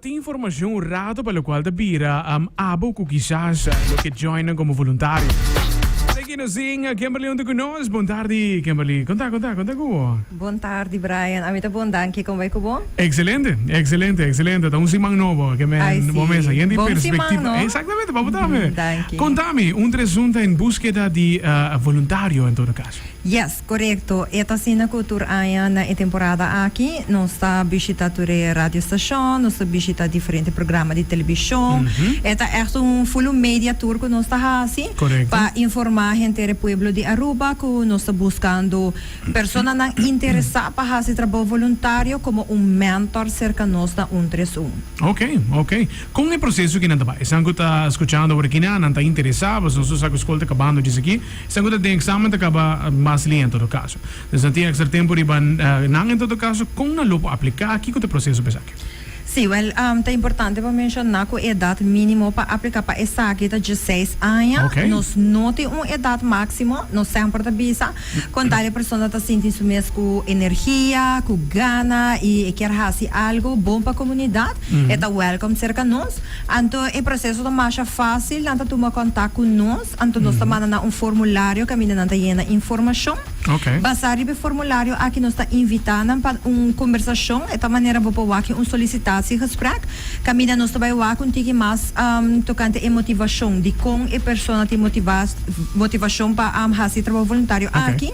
Tin informacion hurado pa locual ta bira abo cu kisas lo ke joinnan como voluntario. Esaki ki nos zing Kemberly huntu cu nos. Bon tardi Kemberly. Conta, conta, conta cu bo. Bon tardi Brian, ami ta bon danki, con bay cu bo? Excelente, excelente, excelente, ta un siman nobo ke men Ay si, bo mesa yen di bon siman perspectiva, no? exactamente, pa bo tambe. Danki. Conta mi, un tresunta en búsqueda di eh, voluntario en todo caso. Yes. Korekto, e ta asina ku tur aña na e temporada aki. Nos ta bishita tur e radiostashon, nos ta bishita diferente programa di telebishon. E ta ègt un fulu media tur ku nos ta hasi pa informá henter e pueblo di Aruba ku nos ta buskando personanan interesá pa hasi trabou voluntario komo un mèntor serka nos na un tres un. Oke, oke. Kon e proseso aki nan ta bai? Esnan ku ta skuchando awor aki nan, nan ta interesá? Boso no so sa ku skol ta kabando djis aki. Esnan ku ta den eksamen ta kaba mas lia en todo kaso. Nos a tin èkstra tempu riba nan en todo kaso. Kon nan lo por apliká? Kiko ta e proseso pa esaki? Sí, wèl, ta importante pa menshoná ku e edat mínimo pa apliká pa esaki ta dieseis aña. Nos no tin un edat máksimo, nos semper ta bisa kon tal e persona ta sinti su mes ku energia, ku gana i e kier hasi algu bon pa komunidat, e ta wèlkom serka nos. Anto e proseso ta masha fásil, nan ta tuma kontak ku nos. Anto nos ta manda nan un formulario kaminda nan ta yena informashon. Basá riba e formulario aki nos ta invitá nan pa un kombersashon. E ta manera bo por wak un solisitatiegesprek kaminda nos ta bai wak un tiki mas tokante e motivashon, dikon e persona tin motivashon pa hasi trabou voluntario aki.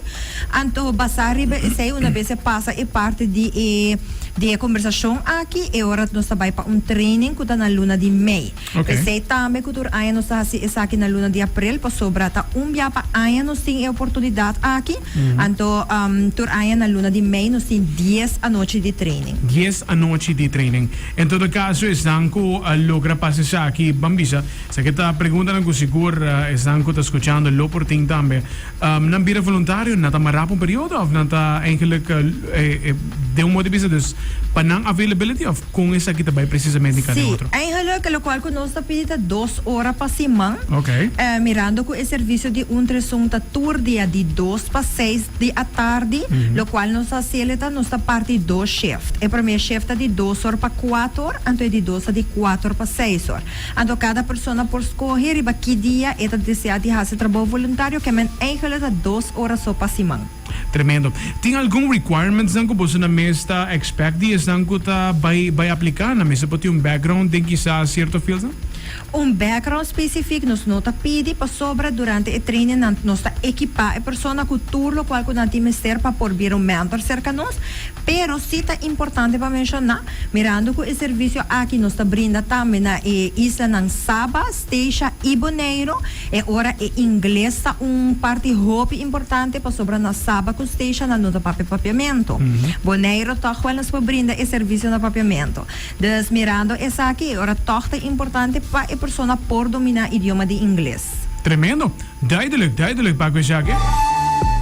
Anto basá riba esei una bes e pasa e parti di e kombersashon aki e ora nos ta bai pa un training ku ta na luna di mei. P'esei tambe ku tur aña nos ta hasi esaki na luna di aprel, pasobra ta un bia pa aña nos tin e oportunidat aki. Anto tur aña na luna di mei nos tin dies anochi di training. Dies anochi di training. En todo kaso esnan ku a logra pasa esaki ban bisa. Esaki ta preguntanan ku sigur esnan ku ta skuchando lo por tin tambe. Nan bira voluntario? Nan ta mará pa un periodo òf nan ta eigenlik den un moda di bisa dus pa nan availability? Con esaki ta bay precisamente cada Sí, otro? eigenlijk locual cu nos ta pidi ta dos ora pa siman, Ok. eh, mirando cu e servicio di Untersung ta tur dia di dos pa seis di atardi, locual nos ta haci eleta nos ta parti dos shift. E primer shift ta di dos or pa cuato or, anto e di dos ta di cuato or pa seis or. Anto cada persona por scoge riba ki dia e ta desea di haci trabou voluntario, ke men eigenlijk ta dos ora so pa siman. Tremendo. Tin algun requirements nan cu boso na mes ta expect di esnan cu ta bay bay aplica? Nan mester por tin un background den kisa cierto fields nan? Un background specific nos no ta pidi pasobra durante e training nan nos ta ekipa e persona cu tur locual cu nan tin mester pa por bira un mentor cerca nos. Pero si ta importante pa menciona, mirando cu e servicio aki nos ta brinda tambe na e islanan Saba, Stacia y Boneiro. E ora e ingles ta un parti hopi importante pasobra na saba cu Stacia nan no ta papia papiamento. Boneiro toch wel nos por brinda e servicio na papiamento. Dus mirando esaki e ora toch ta importante pa e persona por domina idioma di ingles. Tremendo! Duidelijk, duidelijk, Baguio Jake.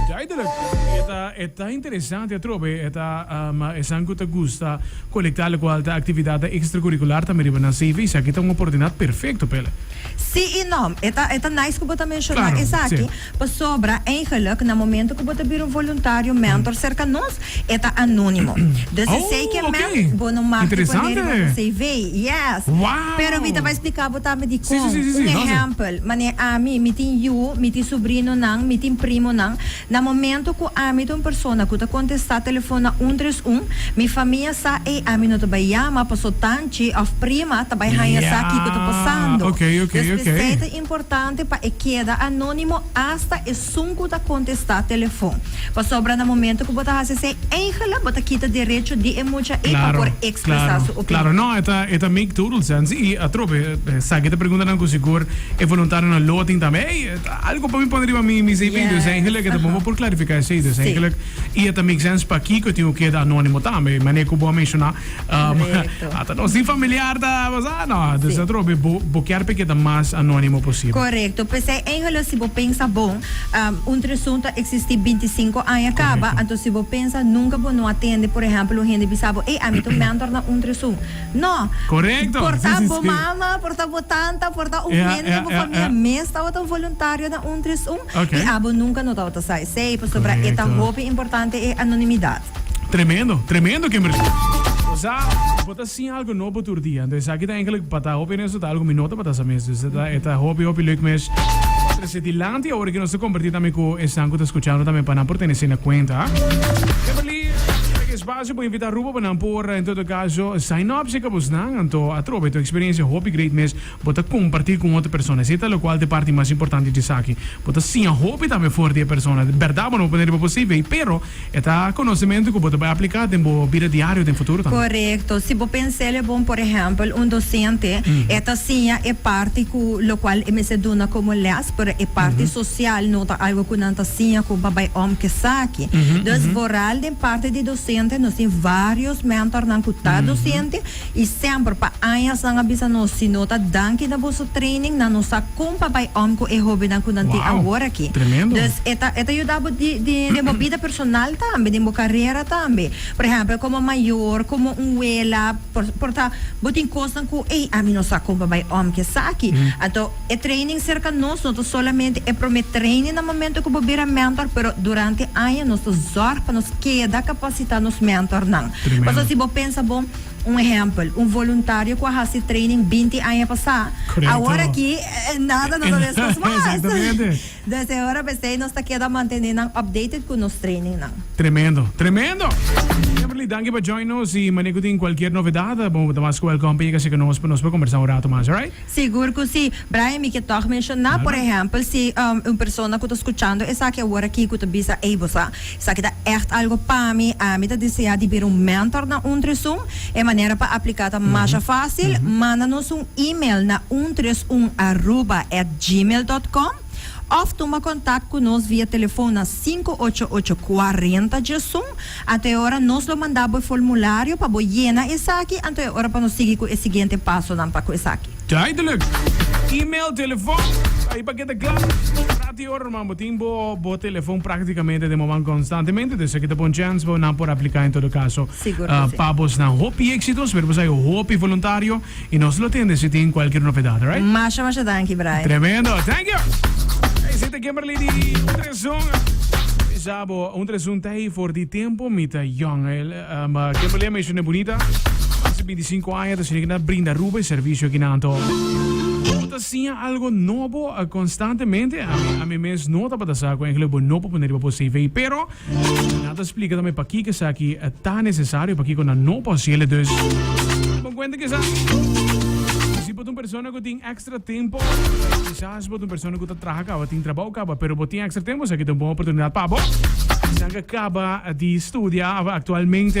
Duidelijk! E ta, e ta interesante atrobe, e ta, esan cu ta gusta. Kolektá, lokual ta aktividatnan ekstracurikular tambe riba nan CV. Esaki ta un oportunidat perfekto pa el. Sí i no. E ta e ta nice ku bo ta menshoná Klaro, esaki, sí. pasobra eigenlik na momentu ku bo ta bira un voluntario, mentor, serka nos, e ta anónimo. Dus esei ke Oh, oké. men bo no mag di poné riba Interesante. bo CV. Yes. Wao! Pero mi ta bai spliká bo tambe Sí, sí, dikon. sí, sí, sí. Un Lo hace. ehèmpel, mané ami, mi tin yu, mi tin subrinonan, mi tin primonan. Na momento cu ami ta un persona cu ta contesta telefon na un tres un, mi famia sa e ami no ta bay yama paso tanchi of prima ta bay haya sa kico ta pasando. Des mester ta importante pa e keda anonimo hasta esun cu ta contesta telefon. Pasobra na momento cu bo ta haci esey eigenlijk bo ta kita derecho di e mucha ey pa por expresa su opinion. E ta make total sense y atrobe sa ki ta pregunta nan cu sigur e voluntarionan lo a tin tambe. Algo pa mi pone riba mi mi cv dus eigenlijk eta bobo por clarifica esey dus eigenlijk y eta make sense pa kico tin cu keda anonimo tambe mane cu bo a menciona ata nos tin familiar ta bosa no dus ta trobe bo bo kier pa keda mas anonimo posible. Correcto pesey eigenlijk si bo pensa bon un tresun ta existi binti sinku aña caba anto si bo pensa nunca bo no a tende por ejemplo un hende bisa bo ey ami ta un mentor na un tresun No. Correcto. Por ta bo mama, por ta bo tanta, por ta un hende den bo famia mes tabata un voluntario na un tres un y abo nunca no tabata sa esey pasobra e ta hopi importante e anonimidad. Tremendo, tremendo Kimberly. Osea, bo ta sin algo nobo tur dia. Entonces esaki ta enkele pa ta hopi honesto ta algo mi no tabata sa mes. Dus e ta hopi, hopi lek mes. Trece dilanti awor ke nos ta comparti tambe cu esnan cu ta scuchando tambe pa nan por tene asina cuenta. Kimberly, Bo invita Rubo pa nan por en todo caso sign up si cabos nan anto atrobe to experiencia hopi great mes bo ta comparti con otro persona ese ta locual te parti mas importante di esaki bo ta siña hopi tambe for di e persona berdad bo no bo pone riba bo cv pero e ta conocemento cu bo ta bay aplica den bo bida diario den futuro tambe. Correcto si bo pensel e bon por ehempel un docente e ta siña e parti cu locual e mester duna como les pero e parti social no ta algo cu nan ta siña con pa bay om kesaki dus boral den. Parti di dosente nos tin varios mentornan cu ta dosente y semper pa añas nan a bisa nos si no ta danki na boso training nan no sa con pa bay om cu e hobennan cu nan tin awor aki. Dus e ta e ta yuda bo di di den bo bida personal tambe den bo carera tambe. Por ehempel como mayor como un wela por por ta bo tin cosnan cu ey ami no sa con pa bay om cu esaki anto. E training serka nos no ta solamente e prome training na momento ku bo bira mentor, pero durante aña nos ta zòrg pa nos keda kapasitá nos mentornan. Pasobra si bo pensa bo, un ehèmpel, un voluntario ku a hasi training binti aña pasá, awor aki nada no ta meskos mas. Entonces e ora p'esei nos ta keda mantené nan updated ku nos trainingnan. Tremendo, tremendo! Kimberly, danki pa join nos i manera ku tin kualkier novedat, bo ta mas ku wèlkòm pa yega serka nos pa nos por kombersá un rato mas, alright? Sigur cu si, Brian, mi ke tog menciona, por ehempel, si un persona cu ta scuchando esaki awor aki cu ta bisa, ey, bo sa, esaki ta echt algo pa mi, ami ta desea di bira un mentor na un tres un, e manera pa aplica ta masha facil, manda nos un email na untresunarroba@gmail.com. Òf tuma kontak ku nos via telefòn na sinku ocho ocho kuarenta djesun. Anto e ora nos lo manda bo e formulario pa bo yena esaki, anto e ora pa nos sigui ku e siguiente pasonan pa ku esaki. Duidelijk! E-mail, telefòn, ta ahí pa keda kla. Prata y oro rma bo tin bo bo telefòn práktikamente den moman konstantemente. Dus esaki ta bon chèns bo nan por apliká en todo kaso pa bosnan. Hopi éksito, spero bo sa e hopi voluntario. y nos lo tende si tin cualkier nopedad alright. Masha masha danki brai. Tremendo, thank you! Ey si ta Kimberly di un tresun bisa bo un tresun ta hey for di tempo mi ta young el um Kimberly a meshane bunita hace binti sinku aña ta shini kina brinda ruba y servicio aki nan to bo ta siña algo nobo constantemente ami ami mes no tabata sa cu engelui bo no por pone riba bo CV pero Nan ta splika tambe pakiko esaki ta nesesario, pakiko nan no por haci elen. Dus bon cuenta kisa. Si bo ta un persona cu tin extra tempo, kisas bo ta un persona cu ta traha caba, tin trabao caba, pero bo tin extra tempo, esaki ta un bon oportunidad pa bo. Nan ke caba di studia actualmente.